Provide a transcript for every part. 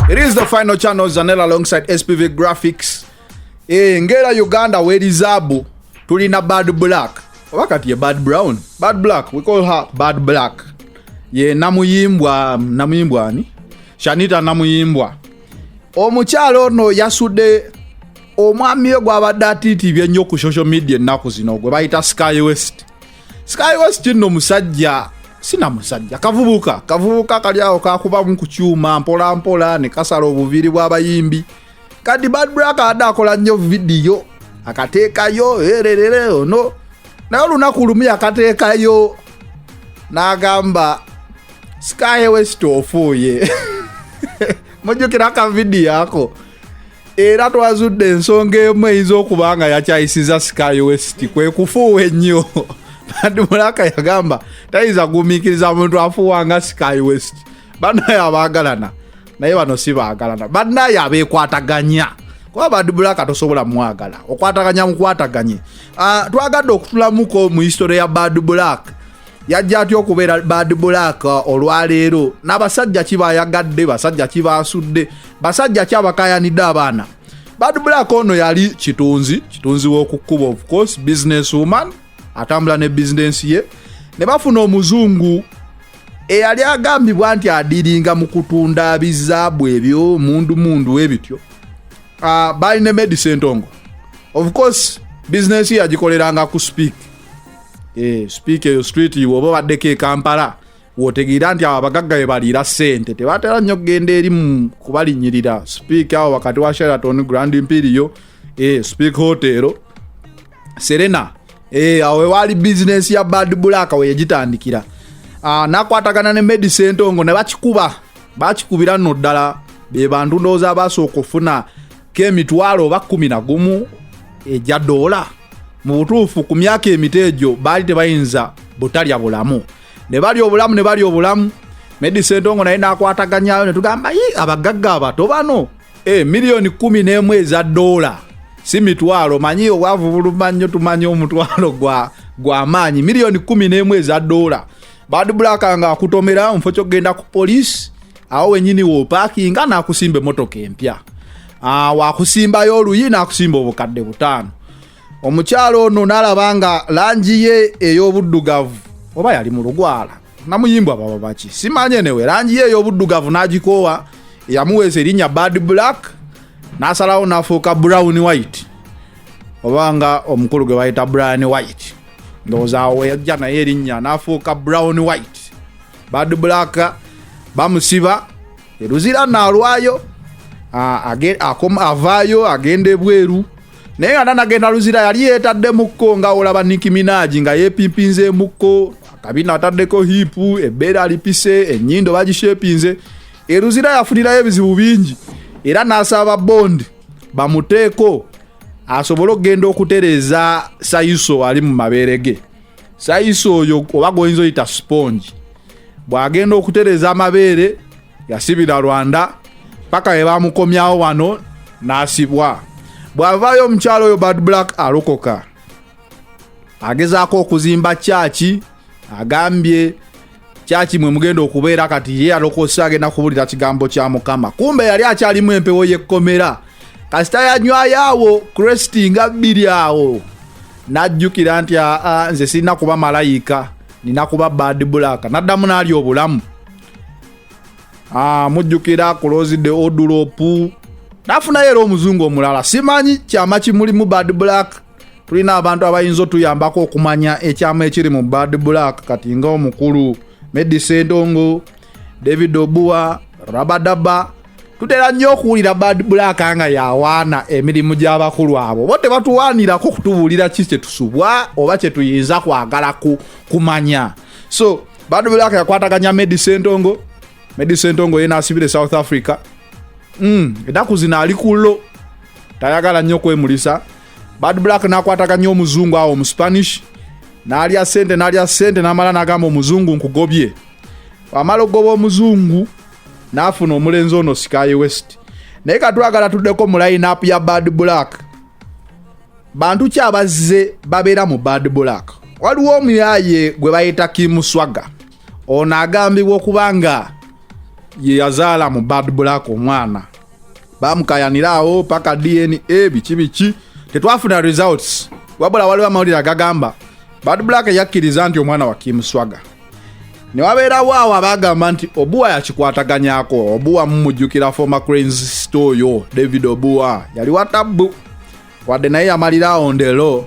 It is the final channel Zanel alongside SPV Graphics. Eh, ngera Uganda weri zabu tulina Bad Black. Oba kati ye Bad Brown. Bad Black, we call her Bad Black. Ye namuyimbwa, namuyimbwa ani? Shanita namuyimbwa. Omukyalo ono yasude omwami we gwabadde atiitiibye ennyo ku social media ennaku zino gwe bayita Sky West. Sky West no musajja sina musajja kavubuka kavubuka kali awo kakubamu ku kyuma mpola mpola ne kasala obuviiri bw'abayimbi kadi Bad Black ada akola nnyo vidiyo akateekayo ererere ono naye olunaku lumu yakateekayo n'agamba Sky West ofuuye mujjukira akavidiyo ako era twazudde ensonga emu eyinza okuba nga yakyayisiza sky west kwe kufuuwa ennyo badi mulaka yagamba tayinza gumiikiriza muntu afuuwa nga sky west banaye abaagalana naye bano si baagalana banaye abeekwataganya kuba badi mulaka tosobola mwagala okwataganya mukwataganye ah, twagadde okutulamuko mu history ya bad black yajja atya okubeera bad black olwaleero n'abasajja ki bayagadde basajja ki baasudde basajja ki abakayanidde abaana bad black ono yali kitunzi kitunzi w'okukkuba of course business woman atambula ne bizinensi ye ne bafuna omuzungu eyali agambibwa nti adiringa mu kutunda bizaabu ebyo mundu mundu ebityo uh, ah, balina medise entongo of course bizinensi yagikoleranga ku speak eh, sipiika eyo street oba obaddeko ekampala wotegeera nti abo abagagga be baliira ssente tebatera nnyo kugenda eri mu kubalinyirira sipiika awo wakati wa sheraton grand imperiyo eh, sipiika hotero serena eh, awo ewaali bizinensi ya bad black we yagitandikira ah, nakwatagana ne medi sentongo ne bakikuba bakikubira nno ddala be bantu ndowooza abaasooka okufuna k'emitwalo oba kkumi na gumu egya doola mu butuufu ku myaka emito egyo baali tebayinza butalya bulamu ne balya obulamu ne balya obulamu medisentongo naye n'akwataganyayo ne tugamba yi abagagga abato bano e miliyoni kkumi n'emu eza doola si mitwalo manyi obwavu buluma nnyo tumanya omutwalo gwa gw'amaanyi miliyoni kkumi n'emu eza doola bad black nga akutomera mufo kyokugenda ku poliisi awo wenyini wopakinga nakusimba emotoka empya ah, wakusimbayo oluyi nakusimba obukadde butaano omukyalo ono nalaba nga langi ye ey'obuddugavu oba yali mu lugwala namuyimbwa baba baki simanyi enewe langi ye ey'obuddugavu nagikoowa yamuweesa erinnya bad black nasalawo nafuuka brown white oba nga omukulu gwe bayita brian white ndowooza awo weyajja naye erinnya n'afuuka brown white bad black bamusiba eruzira naalwayo avaayo agenda ebweru naye nga nanagenda luzira yali yeetaddemukko nga olaba nikiminaji nga yepimpinzemukko akabina ataddeko hipu ebbeera alipise ennyindo bagishepinze eruzira yafunirayo ebizibu bingi era n'asaba bondi bamuteeko asobole okugenda okutereeza sayiso ali mu mabeere ge sayiso oyo oba goyinza oyita sponge bw'agenda okutereeza amabeere yasibira rwanda paka bwe bamukomyawo wano n'asibwa bw'avaayo omukyalo oyo bad black alokoka agezaako okuzimba kyaki agambye kyaki mwe mugenda okubeera kati ye alokosa agenda kubulira kigambo kya mukama kumbe yali akyalimu empewo yekkomera kasita yanywayo awo kresti nga bbiri awo najjukira nti aa nze sirina kuba malayika nina kuba bad black naddamu naali obulamu ah, mujjukira kulozide odulopu nafunayo era omuzungu omulala simanyi kyama kimulimu bad black tulina abantu abayinza otuyambako okumanya ekyama ekiri mu bad black kati nga omukulu medi sendongo david obua rabadaba tutera nnyo okuwulira bad black nga yawaana emirimu gy'abakulu abo bo tebatuwaanirako kutubuulira ki kyetusubwa oba kyetuyinza kwagala kumanya so bad black yakwataganya medi sendongo medi sendongo ye naasibira e south africa mm, enaku zino ali kullo tayagala nnyo kwemulisa bad black nakwataga nnyo omuzungu awo mu spanish nalya sente nalya sente namala nagamba omuzungu nkugobye amala okugoba omuzungu nafuna omulenzi ono sikaye west naye katwagala tuddeko mu lineup ya bad black bantu ki abazze babeera mu bad black waliwo omuyaye gwe bayita kimuswaga ono agambibwa okuba nga yeyazaala mu bad black omwana bamukayanira awo paka dna biki biki tetwafuna results wabula waliwo amawulire agagamba bad black yakkiriza nti omwana wa kim swaga ne wabeerawo awo abagamba nti obuwa yakikwataganyako obuwa mumujjukira former cranes sto oyo david obuwa yali watabbu wadde naye yamalira awo ndelo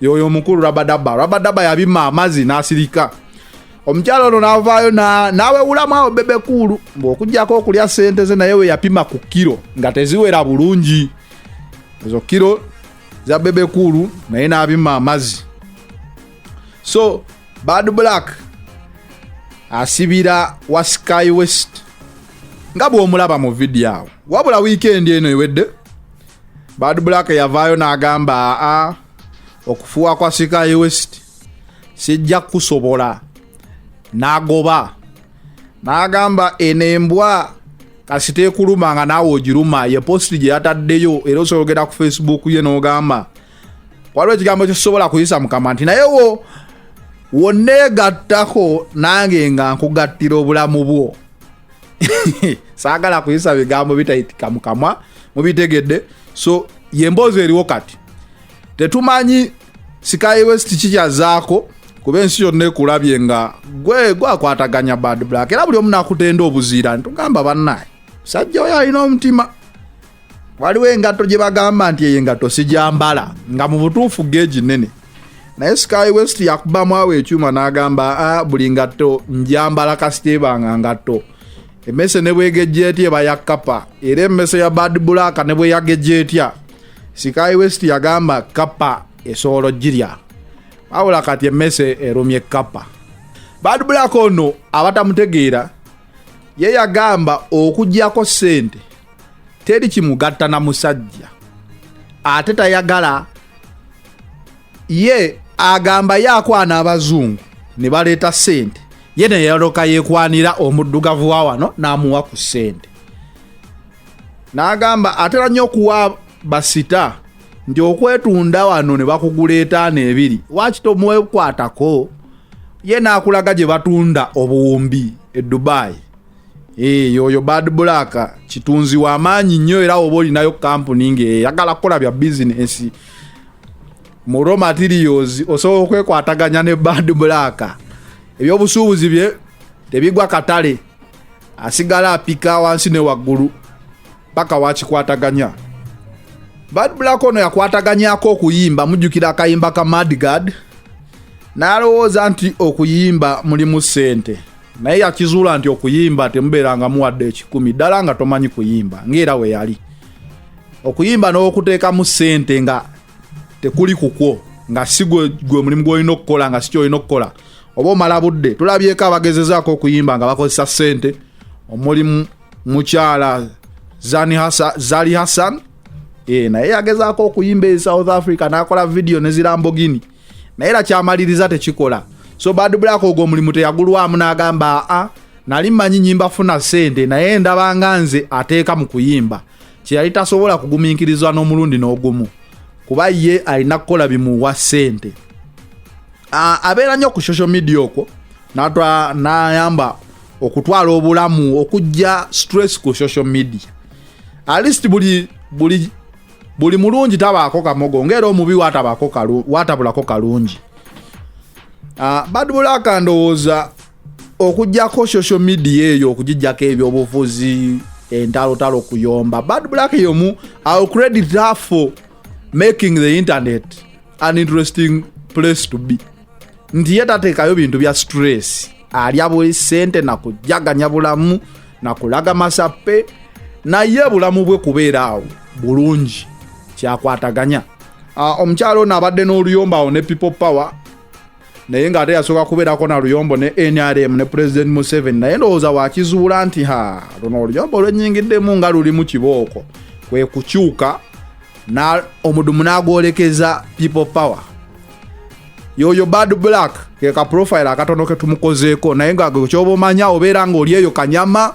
yoyo omukulu rabadaba rabadaba yabima amazi nasirika omukyala ono navaayo nawewulamu awo bebe kuulu ngaokujjako okulya sente ze naye weyapima ku kiro nga teziwera bulungi ezo kiro za bebe kuulu naye nabima amazi so bad black asibira wa sky west nga bwomulaba mu vidiyo awo wabula wiikendi eno ewedde Bad Black yavaayo n'agamba aa okufuwa kwa Sky West sijja kusobola n'agoba n'agamba eno embwa kasita ekuluma nga naawe ogiruma ye positi gye yataddeyo era osobola ogenda ku facebook ye n'ogamba waliwo ekigambo kyesobola kuyisa mukama nti naye wo wonneegattako nange nga nkugattira obulamu bwo saagala kuyisa bigambo bitayitika mu kamwa mubitegedde so yemboozi eriwo kati tetumanyi sikayi west kikyazaako kuba ensi yonna ekulabye nga gwe gwakwataganya bad black era buli omu nakutenda obuziira ntugamba bannaye sajja oyo alina omutima waliwo engatto gye bagamba nti eyo engatto sijambala nga mu butuufu geegi nnene naye sky west yakubamu awo ekyuma n'agamba a ah, buli ngatto njambala kasiteebanga ngatto emmese ne bwegejja etya eba ya kappa era emmese ya bad black ne bwe yagejja etya sky west yagamba kappa esobola ogirya wabula kati emmese erumye kappa bad black ono abatamutegeera ye yagamba okugyako sente teri kimugatta na musajja ate tayagala ye agamba ye akwana abazungu ne baleeta sente ye neyaloka yekwanira omuddugavu wa wano n'amuwa ku sente n'agamba atera nnyo okuwa basita nti okwetunda wano ne bakuguleetaano ebiri wakito mwekwatako ye nakulaga gye batunda obuwumbi e dubai eh, yoyo bad black kitunzi wamaanyi nnyo era oba olinayo kampuni ngeyagala kukola bya bizinesi mu raw materials osobola okwekwataganya ne bad black ebyobusuubuzi bye tebigwa katale asigala apika wansi ne waggulu paka wakikwataganya bad black ono yakwataganyako okuyimba mujjukira akayimba ka madgard n'alowooza nti okuyimba mulimu ssente naye yakizuula nti okuyimba temubeera nga muwadde ekikumi ddala nga tomanyi kuyimba ngaera we yali okuyimba n'okuteekamu ssente nga tekuli kukwo nga si gwe mulimu gwolina okukola nga sikyo olina okukola oba omala budde tulabyeko abagezezaako okuyimba nga bakozesa ssente omulimu mukyala zali hassan e, naye yagezaako okuyimba e south africa nakola vidiyo nezirambogini naye era kyamaliriza tekikola so bad black ogwo omulimu teyagulwamu nagamba aa nali mmanyi nyimba funa sente naye ndabanga nze ateeka mu kuyimba kyeyali tasobola kugumiikirizwa n'omulundi n'ogumu kuba ye alina kukola bimuwa sente abeera nnyo ku social media okwo nayamba okutwala obulamu okujja stress ku social media alist buli buli buli mulungi tabaako kamogo ngaera omubi watabulako kalungi ah, badbulaka ndowooza okujjako social media eyo okugijjako ebyobufuzi entalotalo okuyomba bad black yomu ill credit her for making the internet an interesting place to be nti ye tateekayo bintu bya stress alya buli sente nakujaganya bulamu nakulaga masappe naye bulamu bwe kubeera awo bulungi kyakwataganya ah, omukyalo ono abadde n'oluyomba awo ne people power naye ng'ate yasooka kubeerako na luyombo ne nrm ne pulezidenti museveni naye ndowooza wakizuula nti ha luno oluyombo lwennyingiddemu nga lulimu kibooko kwe kukyuka na omudumu n'agwolekeza people power yoyo bad black keka profile akatono ketumukozeeko naye nga kyoba omanya obeera nga oli eyo kanyama